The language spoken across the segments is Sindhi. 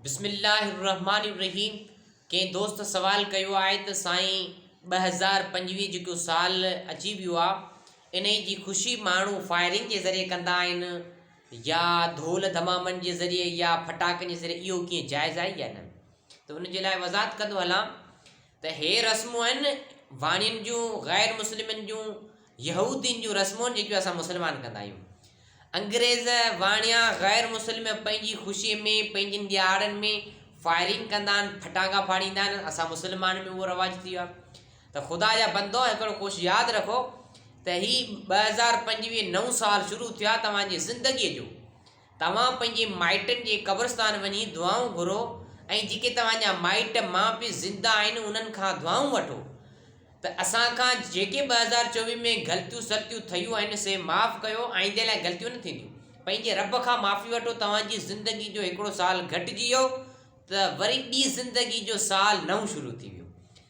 بسم الله الرحمٰن الرحيم ڪنهن دوست سوال ڪيو آهي ته سائين ٻه هزار پنجويهه جيڪو سال اچي ويو آهي انهي جي خوشي ماڻهو فائرنگ جي ذريعي ڪندا آهن يا ڌول ڌمامن جي ذريعي يا ڦٽاڪن جي ذريعي اهو ڪيئن جائز آهي يا نه ته ان جي لاء وضاحت ڪندو هلان ته هي رسمون آهن واڻين جون، غير مسلمن جون، يهودين جون رسمون جيڪيون اسان مسلمان ڪندا آهيون. انگريز واڻيا غير مسلم پنهنجي خوشي ۾ پنهنجين ڏيهاڙن ۾ فائرنگ ڪندا آهن، ڦٽاڪا ڦاڙيندا آهن، اسان مسلمان ۾ اهو رواج ٿي ويو آهي. ته خدا جا بندو هڪڙو ڪوش ياد رکو ته هي ٻه هزار پنجويهه نئون سال شروع ٿيو آهي توهان جي زندگيء جو توهان پنهنجي مائٽن جي قبرستان وڃي دعائون گهرو ۽ جيڪي توهان جا مائٽ ماء پي زنده آهن انهن کان دعائون وٺو ته اسان کان جيڪي ٻه هزار چوويهه ۾ غلطيون سلطيون ٿيون آهن سي معاف ڪيو آئيندي لاء غلطيون نه ٿينديون پنهنجي رب کان معافي وٺو توهان جي زندگي جو هڪڙو سال گهٽجي ويو ته وري ٻي زندگي جو سال نئون شروع ٿي ويو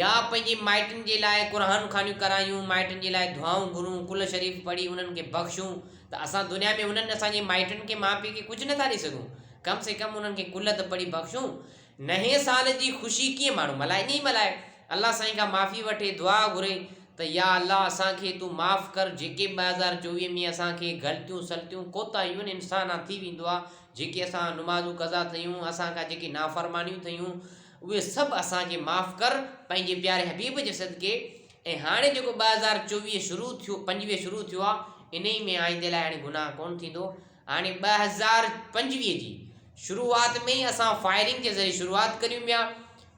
يا پنهنجي مائٽن جي لاء قرآن خوانيون ڪرايون، مائٽن جي لاء دعائون گهرون، قل شريف پڙهي انهن کي بخشون ته اسان دنيا ۾ انهن اسان جي مائٽن کي ماء پيء کي ڪجهه نه ٿا ڏئي سگهون ڪم سي ڪم انهن کي قل ته پڙهي بخشون نئين سال جي خوشي ڪيئن ماڻهو ملهائي ائين ئي ملهائي الله سائين کان معافي وٺي دعا گهري ته يا الله اسان کي تون معاف ڪر جيڪي ٻه هزار چوويهه ۾ اسان کي غلطيون سلطيون ڪوتاهيون انسان آ ٿي ويندو آ جيڪي اسان نمازون قضا ٿيون اسان کان جيڪي نافرمانيون ٿيون اهي سڀ اسان کي معاف ڪر پنهنجي پياري حبيب جي صدقي ۽ هاڻي جيڪو ٻه هزار چوويهه شروع ٿيو پنجويهه شروع ٿيو آ انهي ۾ آئيندي لاء هاڻي گناهه ڪونه ٿيندو هاڻي ٻه هزار پنجويهه جي شروعات ۾ ئي اسان فائرنگ جي ذريعي شروعات ڪريون پيا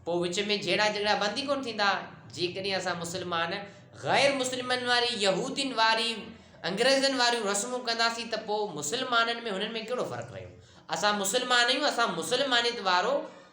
پوء وچ ۾ جهيڙا جهڳڙا بند ئي ڪونه ٿيندا جيڪڏهن اسان مسلمان غير مسلمن واري يهودين واري انگريزن واريون رسمون ڪنداسين ته پوء مسلمانن ۾ هنن ۾ ڪهڙو فرق رهيو اسان مسلمان آهيون اسان مسلمانيت وارو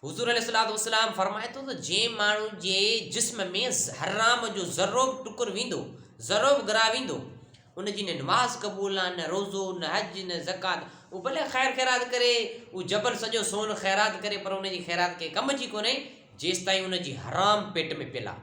حضور عليه الصلوة والسلام فرمائي ٿو ته جنهن ماڻهو جي جسم ۾ حرام جو ذرو به ٽڪر ويندو، ذرو به گرا ويندو، ان جي نه نماز قبول آهن، نه روزو، نه حج، نه زڪوات، هو ڀلي خير خيرات ڪري، هو جبل سڄو سون خيرات ڪري پر ان جي خيرات ڪنهن ڪم جي ڪونهي جيستائين ان جي حرام پيٽ ۾ پيل آهي.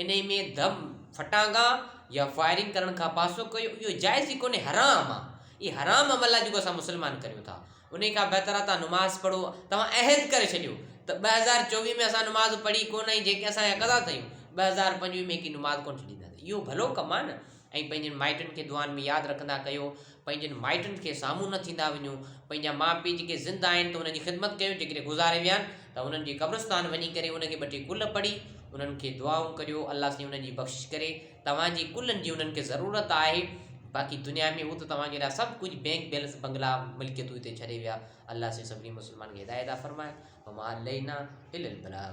انهي ۾ دم ڦٽانگا يا فائرنگ ڪرڻ کان پاسو ڪيو اهو جائز ئي ڪونهي حرام آ هي حرام عمل آ جيڪو اسان مسلمان ڪريون ٿا انهي کان بهتر آ تان نماز پڙهو توهان عهد ڪري ڇڏيو ته ٻه هزار چوويهه ۾ اسان نماز پڙهي ڪونهي جيڪي اسان جا قضا ٿيون ٻه هزار پنجويهه ۾ هڪ نماز ڪونهي ڇڏينداسين اهو ڀلو ڪم آ نه ۽ پنهنجن مائٽن کي دعائن ۾ ياد رکندا ڪيو، پنهنجن مائٽن کي سامهون نه ٿيندا وڃو، پنهنجا ماء پيء جيڪي زنده آهن ته انهن جي خدمت ڪيو، جيڪڏهن گذاري ويا آهن ته انهن جي قبرستان وڃي ڪري انهن کي ٻه ٽي ڪل پڙهي انهن کي دعائون ڪريو، الله سائين انهن جي بخشش ڪري، توهان جي ڪلن جي انهن کي ضرورت آهي، باقي دنيا ۾ هو ته توهان جي لاء سڀ ڪجهه بينڪ بيلنس بنگلا ملڪيتون هتي ڇڏي ويا، الله سائين سڀني مسلمانن کي هدايت عطا فرمائي، وما علينا الا البلاغ.